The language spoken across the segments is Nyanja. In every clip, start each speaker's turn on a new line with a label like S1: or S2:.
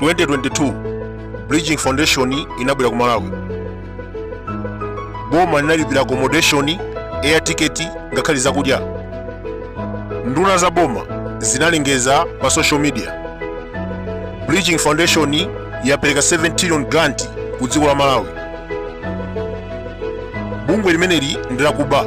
S1: 2022 bridging foundation inabwera ku malawi boma linalipira accommodation air ticket ngakhale zakudya nduna za boma zinalengeza pa social media bridging foundation yapereka 7 trillion grant ku dziko la malawi bungwe limeneli ndilakuba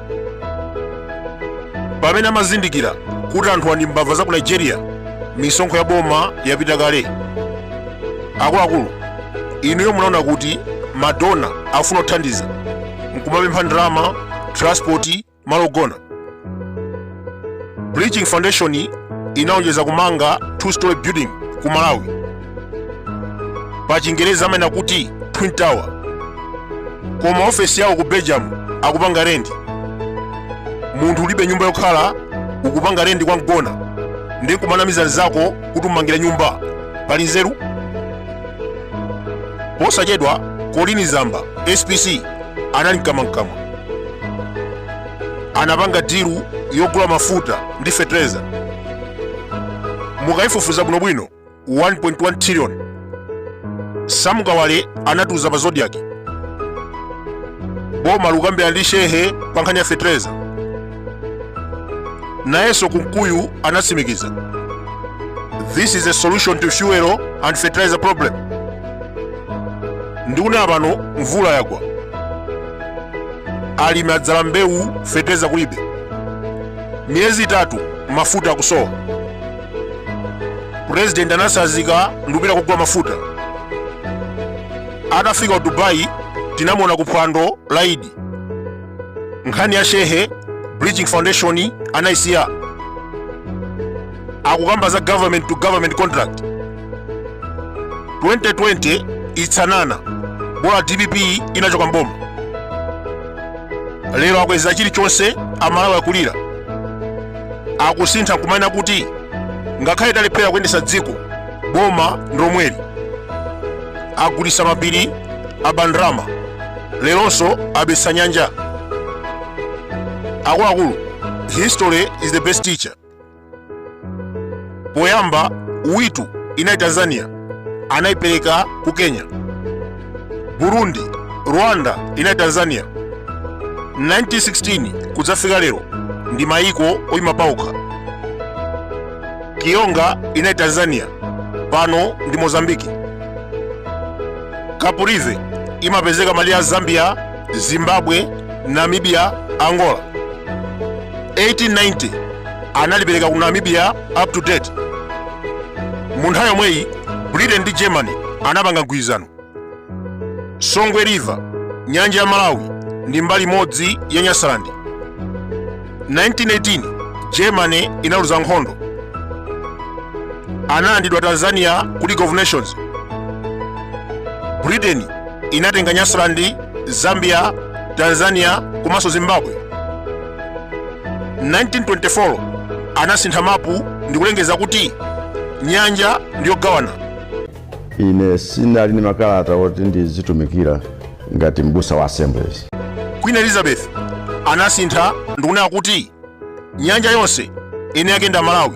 S1: pamene amazindikira kuti anthuwa ndi mbava za ku nigeria misonkho ya boma yapita kale akuluakulu inuyo munaona kuti madona afuna kuthandiza nkumapempha ndalama transport malo ogona Bridging Foundation inalonjeza kumanga two story building ku Malawi pa chingereza amanena kuti Twin Tower koma ofesi yawo ku Belgium akupanga rendi munthu ulibe nyumba yokhala ukupanga rendi kwa mgona ndi nkumanamiza nzako kuti ummangira nyumba pali nzeru posachedwa colleen zamba spc anali mkamwamkamwa anapanga dilu yogula mafuta ndi fetereza mukayifufuza bwinobwino 1.1 trillion sam kawale anatiuza pa zodiak boma likukambirana ndi shehe pa nkhani ya fetereza nayenso kunkuyu anatsimikiza this is a solution to fuel and fertilizer problem ndikunena pano mvula yagwa alimi adzala mbewu feteza kulibe miyezi itatu mafuta akusowa purezidenti anatsazika ndikupita kugula mafuta atafika ku dubai tinamuona ku phwando la idi nkhani ya shehe bridging foundation anaisiya akukamba za government to government contract 2020 itsanana bola dpp inachoka mboma lero akweza chilichonse amalawi akulira akusintha kumanena kuti ngakhale talephera kuyendesa dziko boma ndilomweli agulitsa mapiri aba ndalama leronso abetsa nyanja akuluakulu history is the best teacher poyamba witu inali tanzania anaipereka ku kenya burundi rwanda inali tanzania 1916 kudzafika lero ndi mayiko oyima paokha kionga inali tanzania pano ndi mozambiki caprivi imapezeka malire a zambia zimbabwe namibia angola 1890 analipereka ku namibia up to date mu nthawi yomweyi britain ndi germany anapanga mgwirizano songwe river nyanja ya malawi ndi mbali imodzi ya nyasaland 1918 germany inaluza nkhondo analandidwa tanzania ku league of nations britain inatenga nyasaland zambia tanzania komanso zimbabwe 1924 anasintha mapu ndi kulengeza kuti nyanja ndiyogawana
S2: ine sinali ndi makalata oti ndizitumikira ngati m'busa wa assemblies queen
S1: elizabeth anasintha ndikunena kuti nyanja yonse eni ake nda malawi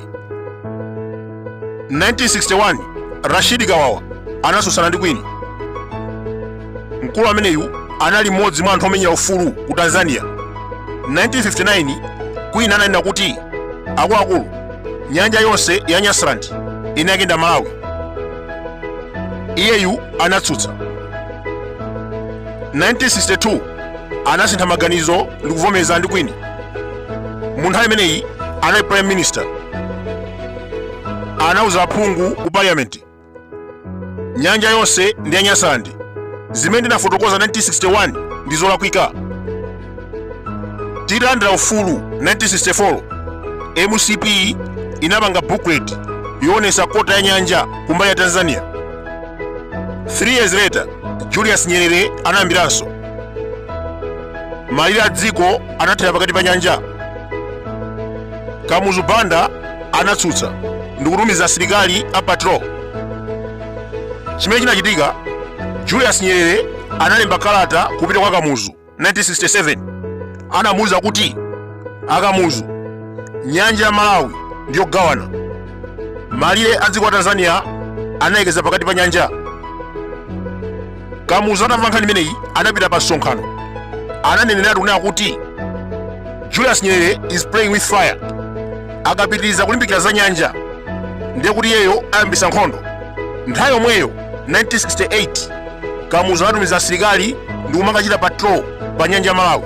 S1: 1961 rashidi kawawa anasusana ndi queen mkulu ameneyu anali mmodzi mwa anthu omenyera ufulu ku tanzania 1959 queen ananena kuti akuluakulu nyanja yonse ya nyasaland eni ake nda malawi iyeyu anatsutsa 1962 anasintha maganizo ndi kuvomereza ndi queen mu nthawi imeneyi anali prime minister anauza aphungu ku parliament nyanja yonse ndi ya nyasaland zimene ndinafotokoza 1961 ndi zolakwika tilandira ufulu 1964 mcp inapanga booklet yoonesa kota ya nyanja kumbali ya tanzania 3 years later julius nyerere anayambiranso malire a dziko anathera pakati pa nyanja Kamuzu Banda anatsutsa ndikutumiza asilikali a patrol. Chimene chinachitika, Julius Nyerere analemba kalata kupita kwa Kamuzu 1967 anamuuza kuti akamuzu nyanja ya Malawi ndiyogawana malire a dziko la Tanzania analekeza pakati pa nyanja kamuzu atamva nkhani imeneyi anapita pa msonkhano ananeneratu kunena kuti julius nyerere is playing with fire akapitiriza kulimbikira za nyanja ndiye kuti iyeyo ayambisa nkhondo nthawi yomweyo 1968 kamuzu anatumiza asilikali ndi kumakachita patrol pa nyanja ya malawi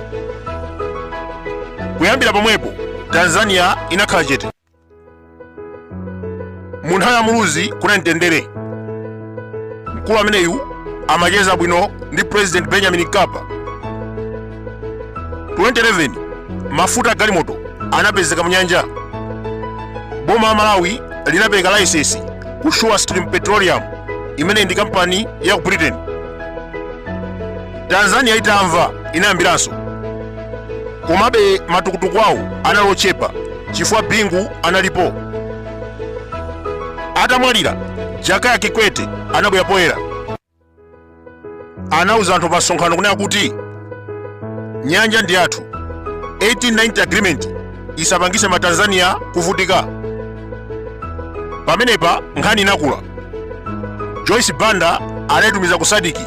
S1: kuyambira pomwepo tanzania inakhala chete mu nthawi ya muluzi kunali mtendere mkulu ameneyu amacheza bwino ndi president benjamin mkapa 2011 mafuta a galimoto anapezeka mu nyanja boma la malawi linapereka laisesi ku surestream petroleum imene ndi kampani ya ku britain tanzania itamva inayambiranso komabe matukutuku awo anali ochepa chifukwa bingu analipo atamwalira jakaya kikwete anabwera poyera anauza anthu pa msonkhano kunena kuti nyanja ndi yathu 1890 agreement isapangise matanzania kuvutika pamenepa nkhani inakula joyce banda anaitumiza ku sadc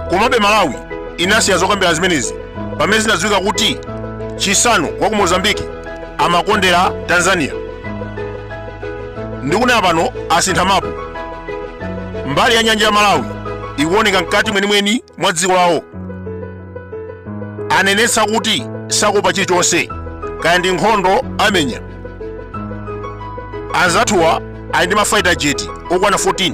S1: komabe malawi inasiya zokambirana zimenezi pamene zinadziwika kuti chissano wa ku mozambiki amakondera tanzania ndikunena pano asintha mapu mbali ya nyanja ya malawi ikuoneka mkati mwenimweni mwa dziko lawo anenetsa kuti sakuopa chilichonse kaya ndi nkhondo amenya anzathuwa ali ndi mafaita jeti okwana 14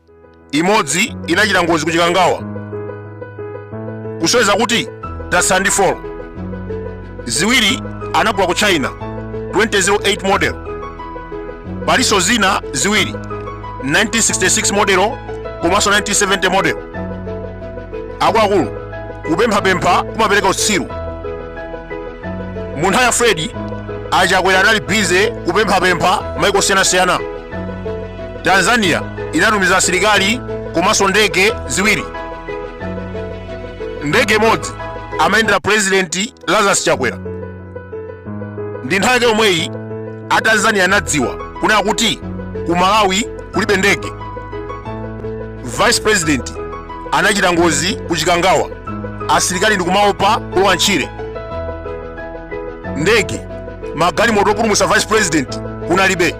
S1: imodzi inachita ngozi ku chikangawa kusonyeza kuti tatsala ndi 4 ziwiri anagula ku china 2008 model palinso zina ziwiri 1966 modelo komanso 1970 model akuluakulu kupemphapempha kumapereka utsiru mu nthawi ya fredi a chakwera anali bize kupemphapempha maiko osiyanasiyana tanzania inatumiza asilikali komanso ndege ziwiri ndege imodzi amayendera purezidenti lazarus chakwera ndi nthawi yake yomweyi a tanzania anadziwa kunena kuti ku malawi kulibe ndege vice president anachita ngozi ku chikangawa asilikali ndikumaopa kulowa ntchire ndege magalimoto opulumutsa vice president kunalibe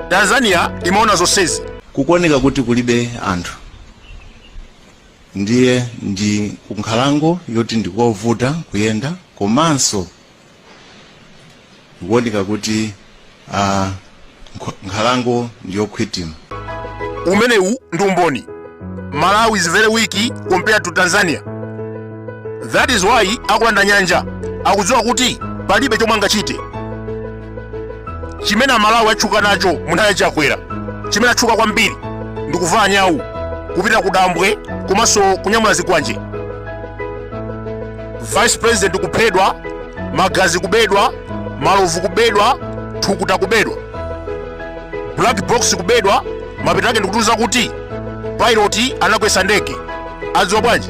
S1: tanzania imaona zonsezi kukuoneka kuti
S3: kulibe anthu ndiye ndi kunkhalango yoti ndikovuta kuyenda komanso kukuoneka kuti ah, nkh- nkhalango ndiyokhwitima
S1: umenewu ndi umboni malawi is very weak compared to tanzania that is why akulanda nyanja akudziwa kuti palibe chomwe angachite chimene amalawi atchuka nacho mu nthawi ya chakwera chimene atchuka kwambiri ndi kuvala nyawu kupita ku dambwe komanso kunyamula zikwanje vice president kuphedwa magazi kubedwa malovu kubedwa thukuta kubedwa black box kubedwa mapeto ake ndikutiuza kuti pilot anakwesa ndege adziwa bwanji